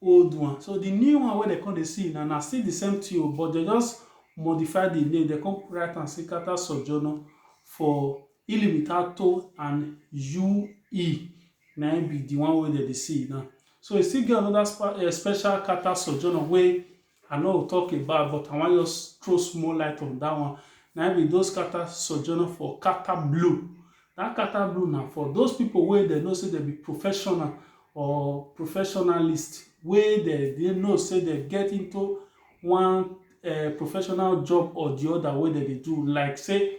old one so the new one wey dem come dey see na na still the same thing o but dem just modify the name dem come write am say Carter Sojourner for Ilimitato and UE na im be the one wey dem dey see now so e still get another special Carter Sojourner wey I no go talk about but I wan just throw small light on that one. Na im be those Qatar sojourner for Qatar Blue. That Qatar Blue na for those people wey dem know say dem be professional or professionalist wey dem dey know say dem get into one uh, professional job or the other wey dem dey do like say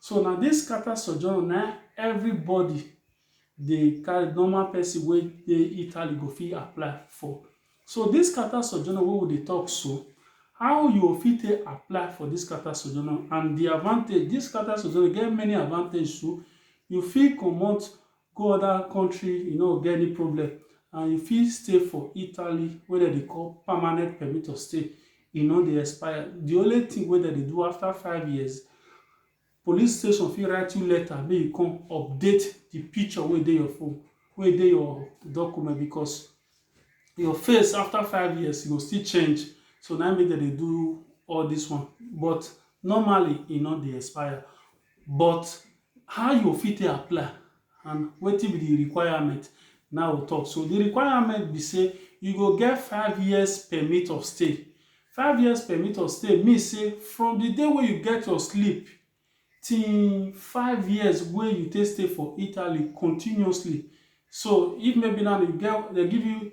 So na dis scata sojourn na everybody dey carry, normal pesin wey dey Italy go fit apply for. So dis scata sojourn wey we dey tok so, how you go fit take apply for dis scata sojourn and di advantage, dis scata sojourn get many advantage too. You fit comot Go oda kontri you no go get any problem and you fit stay for Italy wey dem dey call permanent permit of stay, e no dey expire. Di only tin wey dem dey do afta five years, police station fit write you letter make you come update di picture wey dey your phone, wey dey your document because your face afta five years e go still change so na im make dem dey do all dis one but normally e no dey expire. But how you go fit take apply and wetin be di requirement na we tok so. Di requirement be say you go get five years permit of stay. Five years permit of stay mean say from di day wey you get your slip till five years wey you take stay for Italy continuously. So if maybe now you get, dem give you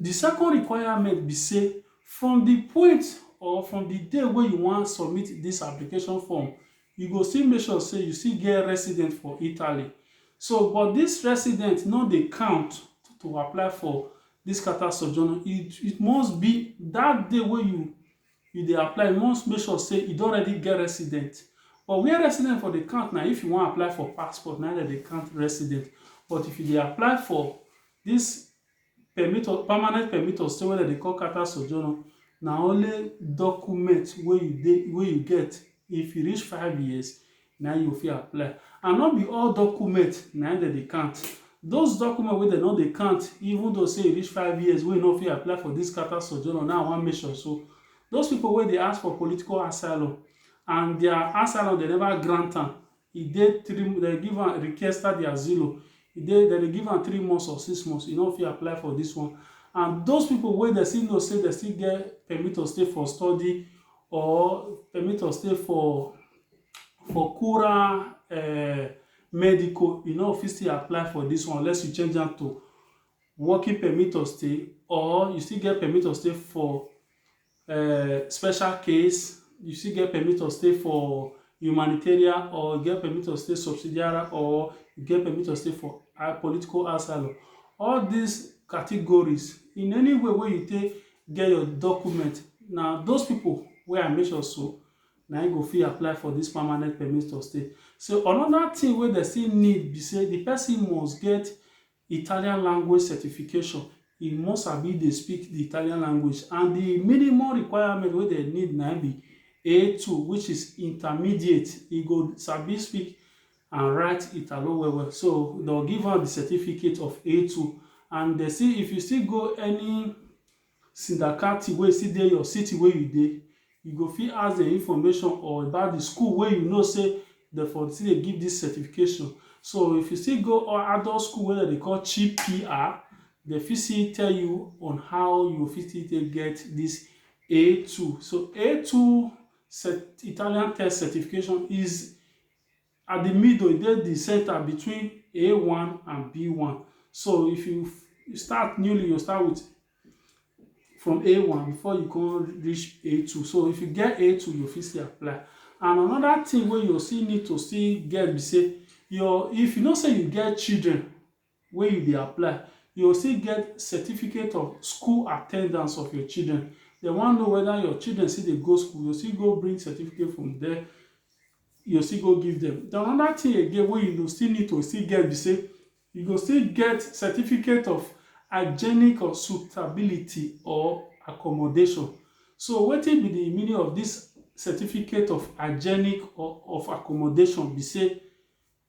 Di second requirement be say from di point or from di day wey you wan submit dis application form, you go still make sure say you still get resident for Italy. So but dis resident no dey count to apply for dis Carta Soggiorno. It must be dat day wey you you dey apply, you must make sure say you don already get resident. But where resident for dey count na if you wan apply for passport, na im dem dey count resident. But if you dey apply for dis Permit of permanent permit of stay wey dem dey call carta sojourno na only document wey you dey wey you get if you reach five years na im you go fit apply and no be all document na im dem dey count those document wey dem no dey count even though sey you reach five years wey you no fit apply for this carta sojourno na im I wan mention so those people wey dey ask for political asylum and their asylum dem never grant am E dey three dem dey give am riquesta de asilo e dey dem dey give am three months or six months e no fit apply for dis one and those pipu wey dem still know sey dem still get permit to stay for study or permit to stay for for kura um medico e no go fit still apply for dis one unless you change am to working permit to stay or you still get permit to stay for um special case, you still get permit to stay for humanitarian or you get permit to stay subsidiary or you get permit to stay for uh, political asylum. All these categories, in any way where you take get your document, now those people where I mention so, now you go fit apply for this permanent permit to stay. So another thing where they still need be say the person must get Italian language certification, e must sabi dey speak di Italian language and di minimum requirement wey dem need na im be A two which is intermediate, e go sabi speak and write Italo well well so dem go give am di certificate of A two and dem still if you still go any Sindakati wey still dey your city wey you dey, you go fit ask dem information or about the school wey you know sey dem for still dey give this certification. So if you still go adult school wey dem dey call CPR, dem fit still tell you on how you go fit still take get this A two. So A two Italian test certification is. At di middle, e dey di center between A one and B one. So if you start newly, you start with from A one before you come reach A two. So if you get A two, you fit still apply. And another thing wey you still need to still get be say your if you know say you get children wey you dey apply, you go still get certificate of school attendance of your children. Dem wan know whether your children still dey go school, you go still go bring certificate from there, you go still go give dem. Then another thing again wey you go still need to still get be sey, you go still get certificate of hygienic or suitability or accommodation. So wetin be de meaning of dis certificate of hygienic or of accommodation be sey,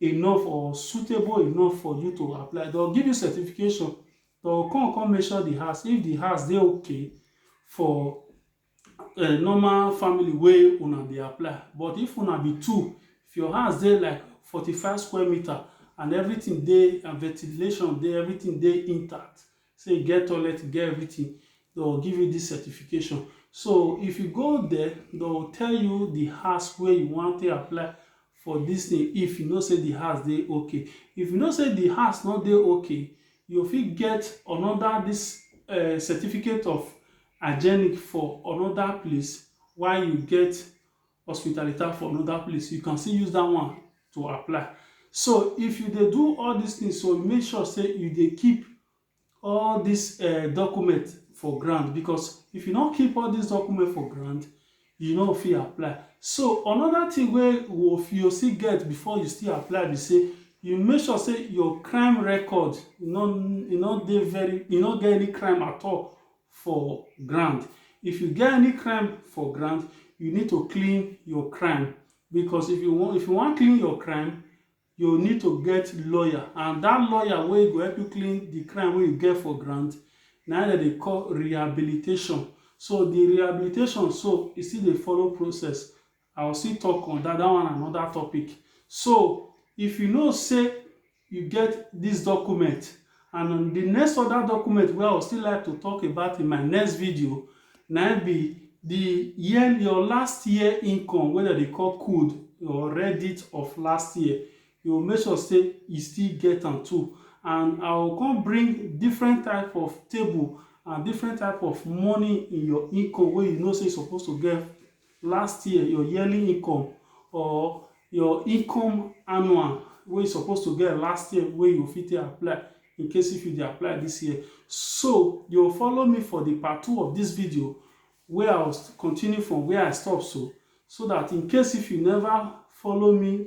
enough or suitable enough for you to apply, dey go give you certification, dey go come come measure the house, if the house dey okay for um normal family wey una dey apply, but if una be two, if your house dey like forty five square meter and everything dey and ventilation dey, everything dey intact, say e get toilet, e get everything, they will give you this certification. So if you go there, they will tell you the house where you want to apply for this thing if you know say the house dey okay. If you know say the house not dey okay, you fit get another this uh, certificate of hygienic for another place while you get hospitalita for another place, you can still use that one to apply. So if you dey do all these things, so make sure say you dey keep all these uh, document for grant because if you no keep all these document for grant, you no fit apply. So another thing wey you still get before you still apply be say you make sure say your crime record you no you no dey very you no get any crime at all for ground. If you get any crime for ground, you need to clean your crime because if you wan if you wan clean your crime, you need to get lawyer and that lawyer wey go help you clean the crime wey you get for ground na im dem dey call rehabilitation. So the rehabilitation so e still dey follow process I will still talk on that, that one another topic. So if you know say you get this document and on the next other document wey I will still like to talk about in my next video na be the year your last year income wey dem dey call code or reddit of last year you will make sure say you still get am too and I will come bring different type of table and different type of money in your income wey you know say you suppose to get last year your yearly income or your income annual wey you suppose to get last year wey you fit take apply in case if you dey apply this year so you follow me for the part two of this video wey i will continue from where i stop so so that in case if you never follow me